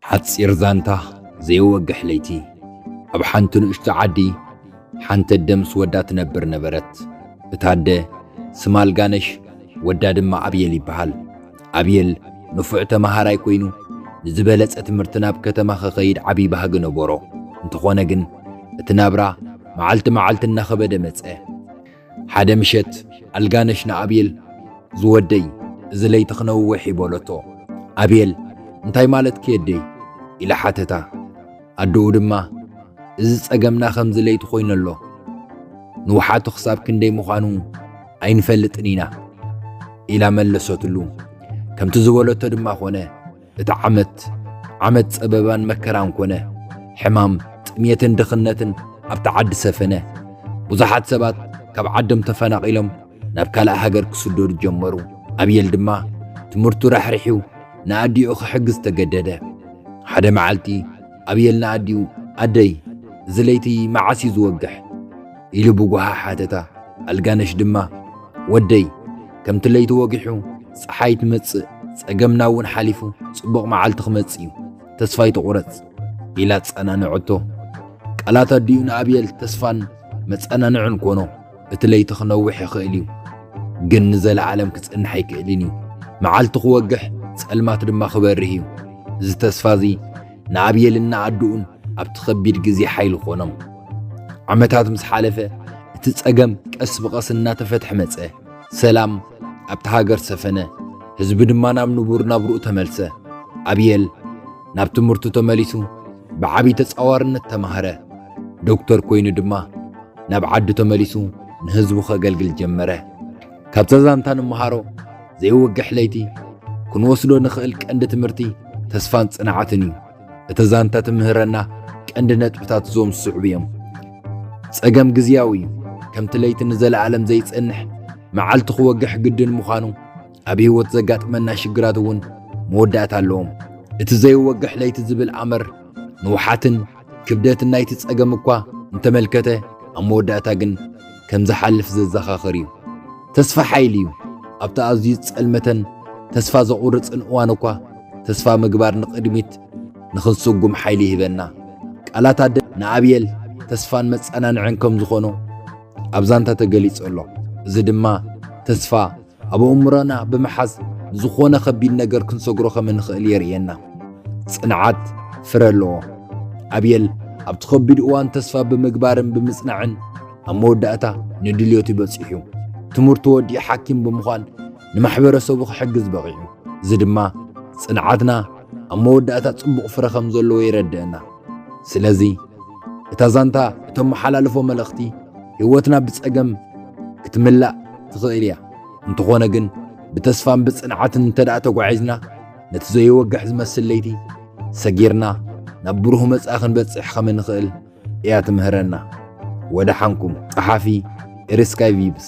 ሓጺር ዛንታ ዘይወግሕ ለይቲ ኣብ ሓንቲ ንእሽቶ ዓዲ ሓንቲ ኣደ ምስ ወዳ ትነብር ነበረት። እታ ኣደ ስማ ኣልጋነሽ ወዳ ድማ ኣብየል ይበሃል። ኣብየል ንፉዕ ተመሃራይ ኮይኑ ንዝበለጸ ትምህርቲ ናብ ከተማ ክኸይድ ዓቢ ባህጊ ነበሮ። እንተኾነ ግን እቲ ናብራ መዓልቲ መዓልቲ እናኸበደ መጸ። ሓደ ምሸት ኣልጋነሽ ንኣብየል ዝወደይ እዚ ለይቲ ክነውሕ እዩ በለቶ። ኣብየል እንታይ ማለትኪ የደይ? ኢላ ሓተታ። ኣደኡ ድማ እዚ ጸገምና ከምዚ ለይቲ ኮይኑ ኣሎ። ንውሓቱ ክሳብ ክንደይ ምዃኑ ኣይንፈልጥን ኢና ኢላ መለሰትሉ። ከምቲ ዝበለቶ ድማ ኮነ። እቲ ዓመት ዓመት ጸበባን መከራን ኮነ። ሕማም፣ ጥሜትን ድኽነትን ኣብታ ዓዲ ሰፈነ። ብዙሓት ሰባት ካብ ዓዶም ተፈናቒሎም ናብ ካልእ ሃገር ክስደዱ ጀመሩ። ኣብየል ድማ ትምህርቱ ራሕሪሑ ንኣዲኡ ክሕግዝ ተገደደ። ሓደ መዓልቲ ኣብየል ንኣዲኡ ኣደይ እዚ ለይቲ መዓስ እዩ ዝወግሕ? ኢሉ ብጓሃ ሓተታ። ኣልጋነሽ ድማ ወደይ ከምቲ ለይቲ ወጊሑ ጸሓይ ትመጽእ ጸገምና እውን ሓሊፉ ጽቡቕ መዓልቲ ክመጽእ እዩ ተስፋ ኣይትቑረጽ ኢላ ኣጸናንዐቶ። ቃላት ኣዲኡ ንኣብየል ተስፋን መጸናንዕን ኮኖ። እቲ ለይቲ ክነውሕ ይኽእል እዩ ግን ንዘለዓለም ክጸንሕ ኣይክእልን እዩ። መዓልቲ ክወግሕ ጸልማት ድማ ክበርህ እዩ። እዚ ተስፋ እዚ ንኣብየልን ንኣድኡን ኣብቲ ኸቢድ ግዜ ሓይሊ ኾኖም። ዓመታት ምስ ሓለፈ እቲ ጸገም ቀስ ብቐስ እናተፈትሐ መጸ። ሰላም ኣብቲ ሃገር ሰፈነ፣ ህዝቢ ድማ ናብ ንቡር ናብርኡ ተመልሰ። ኣብየል ናብ ትምህርቱ ተመሊሱ ብዓብዪ ተጻዋርነት ተማህረ። ዶክተር ኮይኑ ድማ ናብ ዓዱ ተመሊሱ ንህዝቡ ኸገልግል ጀመረ። ካብታ ዛንታ ንመሃሮ ዘይወግሕ ለይቲ ክንወስዶ ንኽእል ቀንዲ ትምህርቲ ተስፋን ጽንዓትን እዩ። እቲ ዛንታ ትምህረና ቀንዲ ነጥብታት እዞም ዝስዕቡ እዮም። ጸገም ግዝያዊ እዩ። ከምቲ ለይቲ ንዘለኣለም ዘይጸንሕ መዓልቲ ክወግሕ ግድን ምዃኑ ኣብ ህይወት ዘጋጥመና ሽግራት እውን መወዳእታ ኣለዎም። እቲ ዘይወግሕ ለይቲ ዝብል ኣምር ንውሓትን ክብደት ናይቲ ጸገም እኳ እንተመልከተ ኣብ መወዳእታ ግን ከም ዝሓልፍ ዘዘኻኽር እዩ። ተስፋ ሓይሊ እዩ። ኣብቲ ኣዝዩ ጸልመተን ተስፋ ዘቑርጽን እዋን እኳ ተስፋ ምግባር ንቕድሚት ንኽንስጉም ሓይሊ ይህበና። ቃላት ኣደ ንኣብየል ተስፋን መጸናንዕን ከም ዝኾኖ ኣብ ዛንታ ተገሊጹ ኣሎ። እዚ ድማ ተስፋ ኣብ ኣእምሮና ብምሓዝ ንዝኾነ ከቢድ ነገር ክንሰግሮ ከም እንኽእል የርእየና። ጽንዓት ፍረ ኣለዎ። ኣብየል ኣብቲ ከቢድ እዋን ተስፋ ብምግባርን ብምጽናዕን ኣብ መወዳእታ ንድልዮቱ በጺሑ ትምህርቱ ወዲኡ ሓኪም ብምዃን ንማሕበረሰቡ ክሕግዝ በቒዑ። እዚ ድማ ጽንዓትና ኣብ መወዳእታ ጽቡቕ ፍረ ከም ዘለዎ የረድእና። ስለዚ እታ ዛንታ እተመሓላልፎ መልእኽቲ ህይወትና ብጸገም ክትምላእ ትኽእል እያ። እንተኾነ ግን ብተስፋን ብጽንዓትን እንተደኣ ተጓዒዝና ነቲ ዘይወግሕ ዝመስል ለይቲ ሰጊርና ናብ ብሩህ መጻኢ ክንበጽሕ ከም እንኽእል እያ ትምህረና። ወደሓንኩም ጸሓፊ ኤሪስካይ ቪብስ